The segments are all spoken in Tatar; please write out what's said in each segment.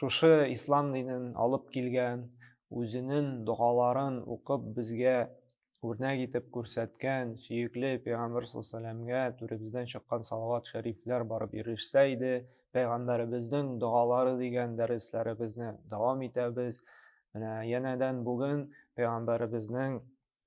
Шушы ислам динен алып килгән, үзенен догаларын укып безгә үрнәк итеп күрсәткән сөекле пәйгамбер сәләмгә түребездән чыккан салават шәрифләр барып ирешсә иде, пәйгамбәребезнең догалары дигән дәресләребезне дәвам итәбез. Менә янәдән бүген пәйгамбәребезнең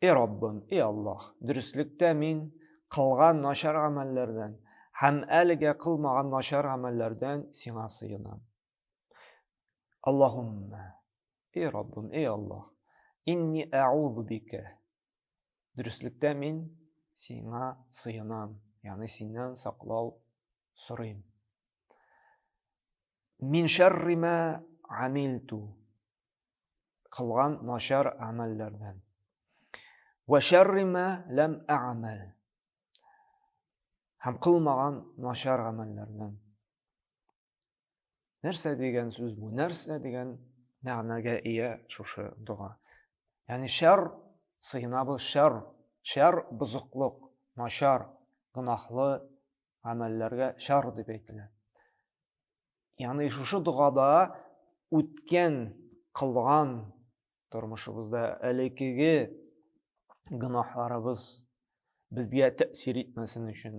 И Раббым, и Аллаһ, дөреслектә мин кылган начар гамәлләрдән һәм әлегә кылмаган начар гамәлләрдән сиңа сыенам. Аллаһумма, и Раббым, и Аллаһ, инни әгъузу бика. Дөреслектә мин сиңа сыенам, ягъни синнән саклау сорыйм. Мин шәррима амилту. кылган начар гамәлләрдән. Вә шәрри мә ләм әгъмәл. Һәм кылмаган начар гамәлләрдән. Нәрсә дигән сүз бу? Нәрсә дигән мәгънәгә ия шушы дога? Ягъни шәр сыйнабыз шәр, шәр бозыклык, начар, гөнаһлы гамәлләргә шәр дип әйтелә. Яны шушы догада үткән, кылган тормышыбызда әлекеге гынахларыбыз безгә тәэсир итмәсен өчен,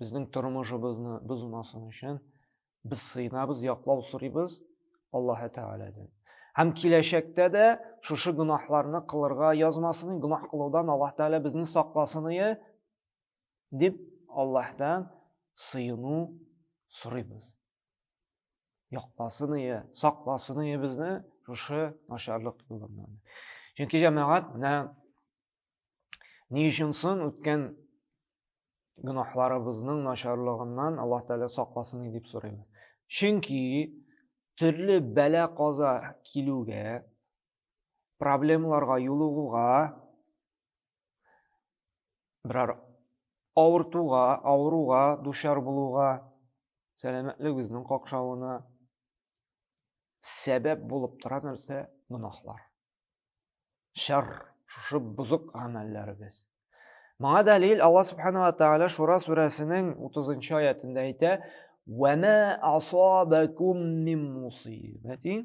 безнең тормышыбызны бозмасын өчен без сыйнабыз, яклау сорыйбыз Аллаһ Тәгаләдән. Һәм киләчәктә дә шушы гынахларны кылырга язмасын, гынах кылудан Аллаһ Тәгалә безне сакласын, дип Аллаһтан сыену сорыйбыз. Якласын ие, сакласын ие безне шушы начарлык юлыннан. Чөнки җәмәгать менә ни өчен сон үткән гөнаһларыбызның начарлыгыннан Аллаһ Тәгалә сакласын дип сорыйбыз. Чөнки төрле бәлә каза килүгә, проблемаларга юлыгуга берәр авыртуга, авыруга дучар булуга, сәламәтлегебезнең какшавына сәбәп булып тора нәрсә? Гөнаһлар. Шәр, шушы бозык гамәлләребез. Моңа дәлил Алла субханала тәгалә Шура сүрәсенең 30 аятында әйтә: "Ва ма асабакум мин мусибатин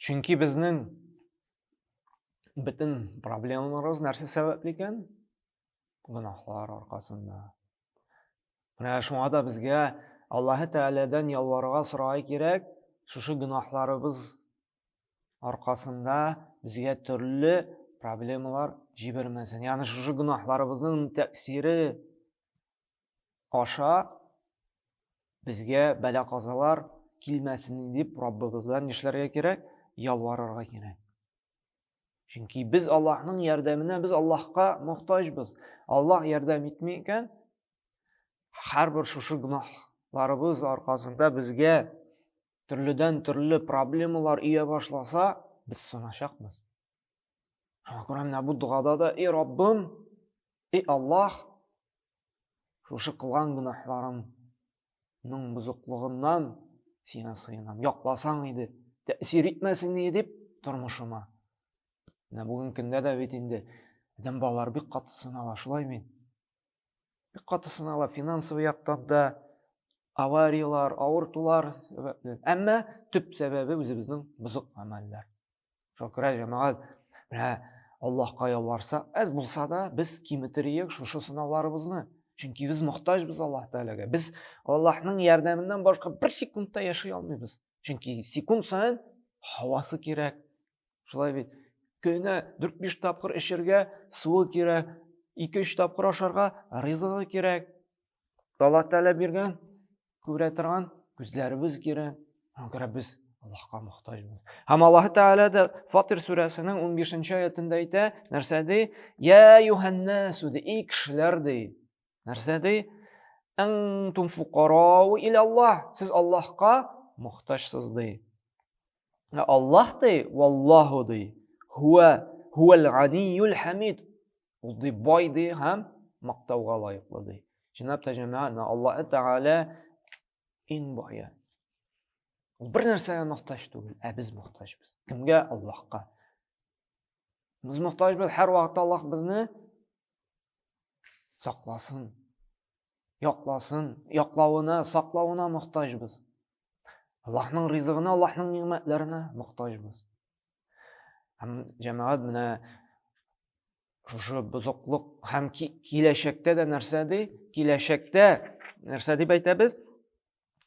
Чөнки безнең бөтен проблемаларыбыз нәрсә сәбәпле икән? Гөнаһлар аркасында. Менә шуңа да безгә Аллаһы Тәгаләдән ялварырга сорарга кирәк, шушы гөнаһларыбыз аркасында безгә төрле проблемалар җибәрмәсен. Ягъни шушы гөнаһларыбызның тәэсире аша безгә бәла-казалар килмәсен дип Раббыбыздан нишләргә кирәк? Ялварырга кирәк. Чөнки без Аллаһның ярдәменә, без Аллаһка мохтаҗбыз. Аллаһ ярдәм итми икән, һәрбер шушы гөнаһларыбыз аркасында безгә төрледән төрле проблемалар ия башласа, без сыначакбыз. Шуңа күрә менә бу догада да, и Раббым, и Аллах, шушы кылган гөнаһларымның бозыклыгыннан сиңа сыенам. Якласаң иде, тәэсир итмәсен иде дип тормышыма. Менә бүген көндә дә бит инде адәм балалары бик каты сынала, шулай мин. Бик каты сынала финансовый яктан да, авариялар, авыртулар сәбәпле. Әмма төп сәбәбе үзебезнең бозык гамәлләр. Шөкер, җәмәгать, менә Аллаһка ялварсак, әз булса да, без киметериек шушы сынауларыбызны. Чөнки без мохтаҗбыз Аллаһ Тәгаләгә. Без Аллаһның ярдәменнән башка бер секундта яши алмыйбыз. Чөнки секунд саен һавасы кирәк. Шулай бит. Көненә 4-5 тапкыр эчергә суы кирәк, 2-3 тапкыр ашарга ризыгы кирәк. Аллаһ Тәгалә биргән, күрә торган күзләребез кирәк. Шуңа күрә без Аллаһка мохтаҗбыз. Һәм Аллаһ Тәгалә дә Фатир сүрәсенең 15-нче аятында әйтә, нәрсә ди? Я юханнасу ди, и кешеләр ди. Нәрсә ди? Антум фукарау ил Аллаһ. Сез Аллаһка мохтаҗсыз ди. Ә Аллаһ ди, валлаһу ди, хуа хуал ганиюл хамид. Ул ди бай ди һәм мактауга лаеклы ди. Җинап та җәмәгать, Аллаһ Тәгалә иң бае. Ул бер нәрсәгә мохтаҗ түгел, ә без мохтаҗбыз. Кемгә? Аллаһка. Без мохтаҗбыз һәр вакытта Аллаһ безне сакласын, якласын, яклавына, саклавына мохтаҗбыз. Аллаһның ризыгына, Аллаһның нигъмәтләренә мохтаҗбыз. Һәм җәмәгать менә шушы бозыклык һәм киләчәктә дә нәрсә ди? Киләчәктә нәрсә дип әйтәбез?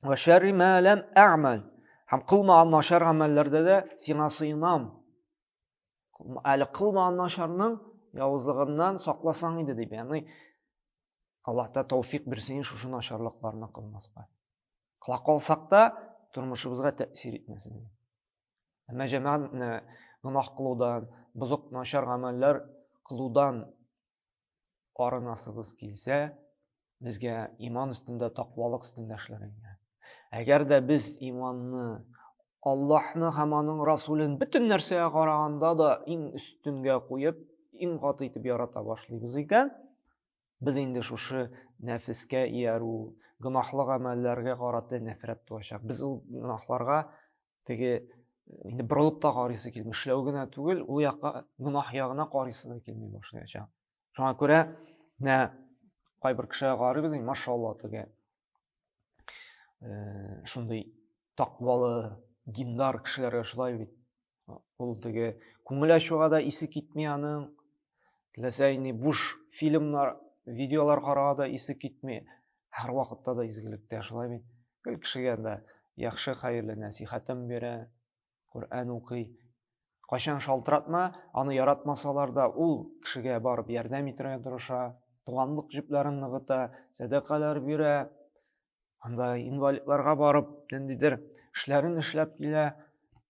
Ва шәрри ма лам а'мал. Һәм кылмаган начар гамәлләрдә дә сиңа сыйынам. әле кылмаган начарның явызлыгыннан сакласаң иде дип яни аллаһ та тәүфик бирсен шушы начарлыкларны кылмаска кыла калсак та тормышыбызга тәэсир итмәсен әмма җәмәгатьне гөнаһ кылудан бозык начар гамәлләр кылудан арынасыбыз килсә, безгә иман өстендә, тақвалык өстендә эшләргә. Әгәр дә без иманны Аллаһны һәм аның Расулен бөтен нәрсәгә караганда да иң өстенгә куеп, иң каты итеп ярата башлыйбыз икән, без инде шушы нәфескә иярү, гөнаһлы гамәлләргә карата нәфрәт туачак. Без ул гөнаһларга теге инде борылып та карыйсы килми эшләү генә түгел ул якка гөнаһ ягына карыйсы да килми башлаячак шуңа күрә менә кайбер кешегә карыйбыз инде машалла теге э, шундый таквалы диндар кешеләргә шулай бит ул теге күңел ачуга да исе китми аның теләсә инде буш фильмнар видеолар карага да исе китми һәрвакытта да изгелектә шулай бит гел кешегә дә яхшы хәерле нәсихәтен бирә коръән укый кайчан шалтыратма аны яратмасалар да ул кешегә барып ярдәм итәргә тырыша туганлык җепләрен ныгыта сәдакалар бирә анда инвалидларга барып ниндидер эшләрен эшләп килә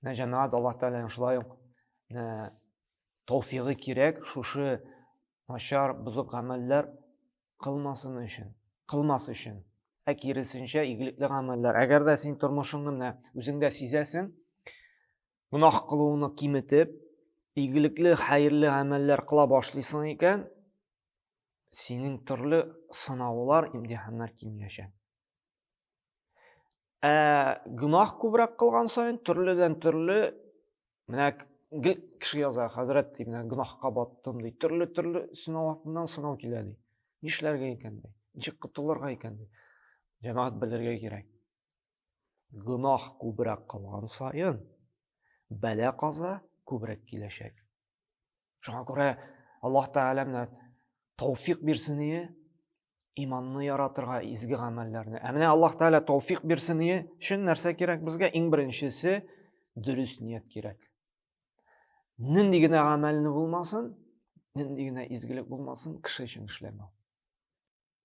Менә җәмәгать Аллаһ Тәгаләнең шулай ук менә тауфигы кирәк шушы начар, бозык гамәлләр кылмасын өчен, кылмас өчен. Ә киресенчә игелекле гамәлләр. Әгәр дә син тормышыңны менә үзеңдә сизәсең, гөнаһ кылуыңны киметеп, игелекле, хәерле гамәлләр кыла башлыйсың икән, синең төрле сынаулар, имтиханнар кимиячәк. Ә гүнах күбрәк кылган саен төрледән төрле менә гел кеше яза, хәзрәт ди, менә гүнахка баттым ди. Төрле төрле сынау артыннан сынау килә ди. Нишләргә икән ди? Ничек котылырга икән ди? Җәмәгать белергә кирәк. Гүнах күбрәк кылган саен бәла каза күбрәк киләчәк. Шуңа күрә Аллаһ Тәгалә менә тауфик бирсен ие, иманны яратырга, изге гамәлләрне. Ә менә Аллаһ Тәгалә тауфик бирсен ие өчен нәрсә кирәк безгә? Иң беренчесе дөрес ният кирәк. Нинди генә гамәлне булмасын, нинди генә изгелек булмасын, кеше өчен эшләмәү.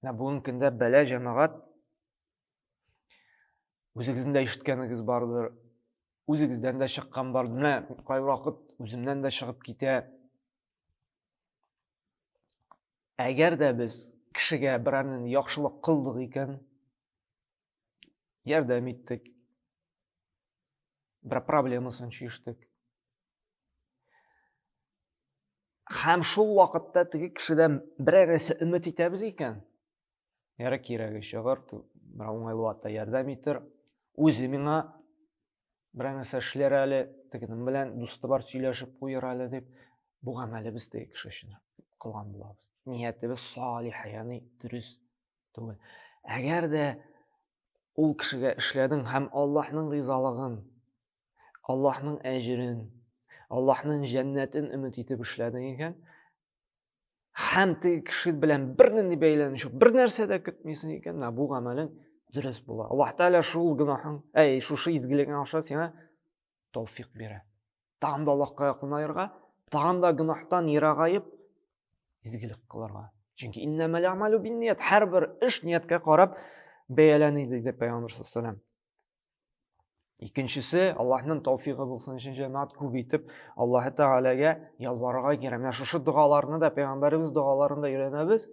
Менә бүгенге көндә бәлә җәмәгать үзегезнең дә ишеткәнегез бардыр, үзегездән дә чыккан бар. Менә кайвакыт үземнән дә чыгып китә. Әгәр дә без кешегә берәрнең яхшылык кылдык икән, Ярдәм иттек. Бер проблемасын чиштек. Хәм шул вакытта теге кешедән бер нәрсә өмет итәбез икән, яра кирәге чыгыр, бер уңайлы вакытта ярдәм итер. Үзе миңа бер нәрсә эшләр әле, тегенең белән дусты бар сөйләшеп куер әле дип, бу гамәлебез теге кеше өчен кылган булабыз. Ниятебез салих, ягъни дөрес Түгел. Әгәр дә ул кешегә эшләдең һәм Аллаһның ризалыгын, Аллаһның әҗерен, Аллаһның җәннәтен өмет итеп эшләдең икән, һәм теге кеше белән бернинди бәйләнеш юк, бер нәрсә дә көтмисең икән, менә бу гамәлең дөрес була. Аллаһ Тәгалә шул гөнаһың, әй, шушы изгелегең аша сиңа тауфик бирә. тагын да аллаһка якынаерга тагын да гөнаһтан ерагаеп изгелек кылырга чөнки һәрбер эш нияткә карап бәяләни диде пайгамбар саллаллаху алейхи икенчесе аллаһның тауфигы булсын өчен җәмәгать күп итеп аллаһы тәгаләгә ялварырга кирәк менә шушы догаларны да пайгамбарыбыз догаларында өйрәнәбез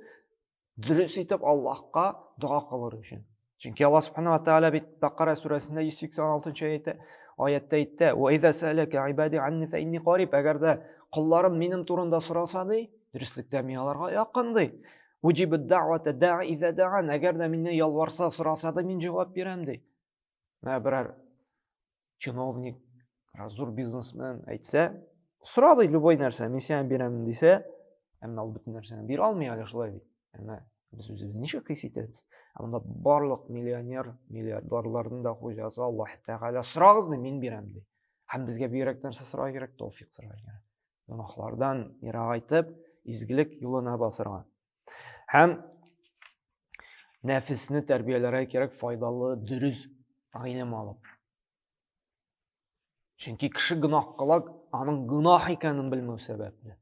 дөрес итеп аллаһка дога кылыр өчен чөнки алла субханала тәғәлә бит бәкара сүрәсендә йөз сексен алтынчы әйтә аятта әйтте әгәр дә колларым минем турында сораса ди дөреслектә мин аларга якын ди әгәр дә миннән ялварса сораса да мин җавап бирәм ди Менә берәр чиновник, берәр зур бизнесмен әйтсә, сора ди любой нәрсә, мин сиңа бирәмен дисә, әмма ул бөтен нәрсәне бирә алмый әле шулай бит. Әмма без үзебезне ничек хис итәбез? Ә монда барлык миллионер, миллиардерларның да хуҗасы Аллаһ Тәгалә сорагыз ди, мин бирәм ди. Һәм безгә бигрәк нәрсә сорау кирәк? Тәүфик сорау кирәк. Гөнаһлардан ерагайтып, изгелек юлына басырга. Һәм нәфесне тәрбияләргә кирәк файдалы, дөрес гыйлем алып. Чөнки кеше гөнаһ кыла, аның гөнаһ икәнен белмәү сәбәпле.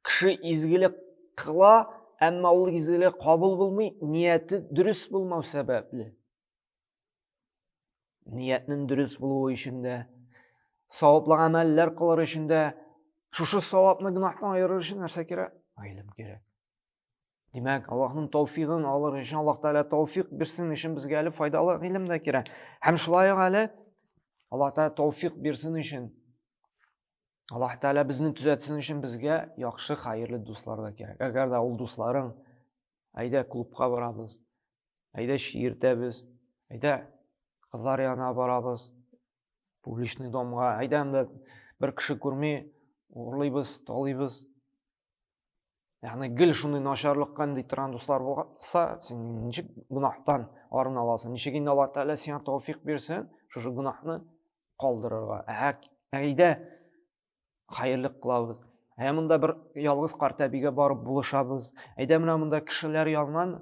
Кеше изгелек кыла, әмма ул изгелек кабул булмый, нияте дөрес булмау сәбәпле. Ниятнең дөрес булуы өчен дә, саваплы гамәлләр кылыр өчен дә, шушы савапны гөнаһтан аерыр өчен нәрсә кирәк? Гыйлем кирәк. Димәк, Аллаһның тауфигын алыр өчен Аллаһ Тәгалә тауфик бирсен өчен безгә әле файдалы гыйлем дә кирәк. Һәм шулай ук әле Аллаһ Тәгалә тауфик бирсен өчен Аллаһ Тәгалә безне төзәтсен өчен безгә яхшы, хәерле дуслар да кирәк. Әгәр дә ул дусларың, әйдә клубка барабыз, Әйдә чиертәбез, әйдә кызлар янына барабыз, публичный домга, әйдә анда бер кеше күрми, урлыйбыз, талыйбыз. Ягъни гел шундый начарлыкка нинди торган дуслар булса, син ничек гөнаһтан арына аласың? Ничек инде Аллаһ Тәгалә сиңа тауфик бирсен, шушы гөнаһны калдырырга. Ә әйдә хәерле кылабыз ә монда бер ялгыз карт әбигә барып булышабыз әйдә менә монда кешеләр яннан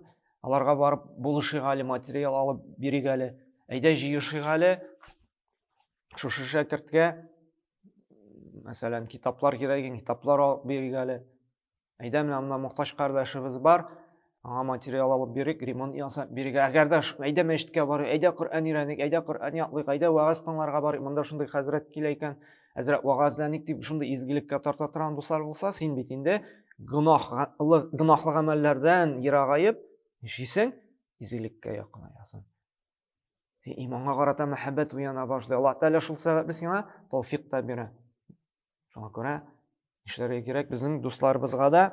аларга барып булышыйк әле материал алып бирик әле әйдә җыешыйк әле шушы шәкерткә мәсәлән китаплар кирәк китаплар алып бирик әле Әйдә, менә монда мохтаҗ кардәшебез бар, аңа материал алып бирик, ремонт ясап бирик. Әгәр дә әйдә мәчеткә барыйк, әйдә Коръән өйрәник, әйдә Коръән ятлыйк, әйдә вагаз тыңларга барыйк. Монда шундый хәзрәт килә икән, әзрәк вагазләник дип шундый изгелеккә тарта торган дуслар булса, син бит инде гөнаһлы гөнаһлы гамәлләрдән ерагаеп, нишисең? Изгелеккә якынаясың. Иманга карата мәхәббәт уяна башлый. Аллаһ Тәгалә шул сәбәпле сиңа тауфик та бирә. Шуңа күрә нишләргә кирәк? Безнең дусларыбызга да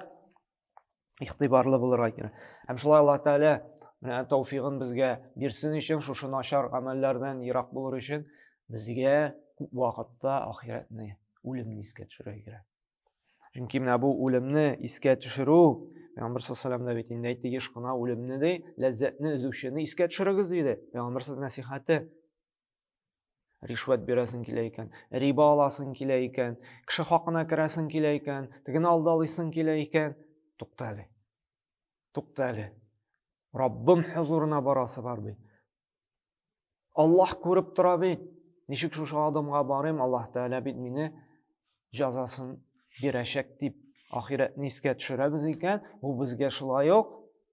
игътибарлы булырга кирәк. Һәм шулай Алла Тәгалә менә тауфигын безгә бирсен өчен, шушы начар гамәлләрдән ерак булыр өчен безгә күп вакытта ахирәтне, үлемне искә төшерергә кирәк. Чөнки менә бу үлемне искә төшерү, Пәйгамбер саллаллаху алейһи бит инде әйтте, еш кына үлемне ди, ләззәтне өзүчене искә төшерегез диде. Пәйгамбер насихаты. ришвәт бирәсең килә икән риба аласың килә икән кеше хакына керәсең килә икән тегене алдалыйсың килә икән тукта әле тукта әле раббым хозурына барасы бар бит аллаһ күреп тора бит ничек шушы адымга барыйм аллаһ тәгалә бит мине җәзасын бирәчәк дип ахирәтне искә төшерәбез икән бу безгә шулай ук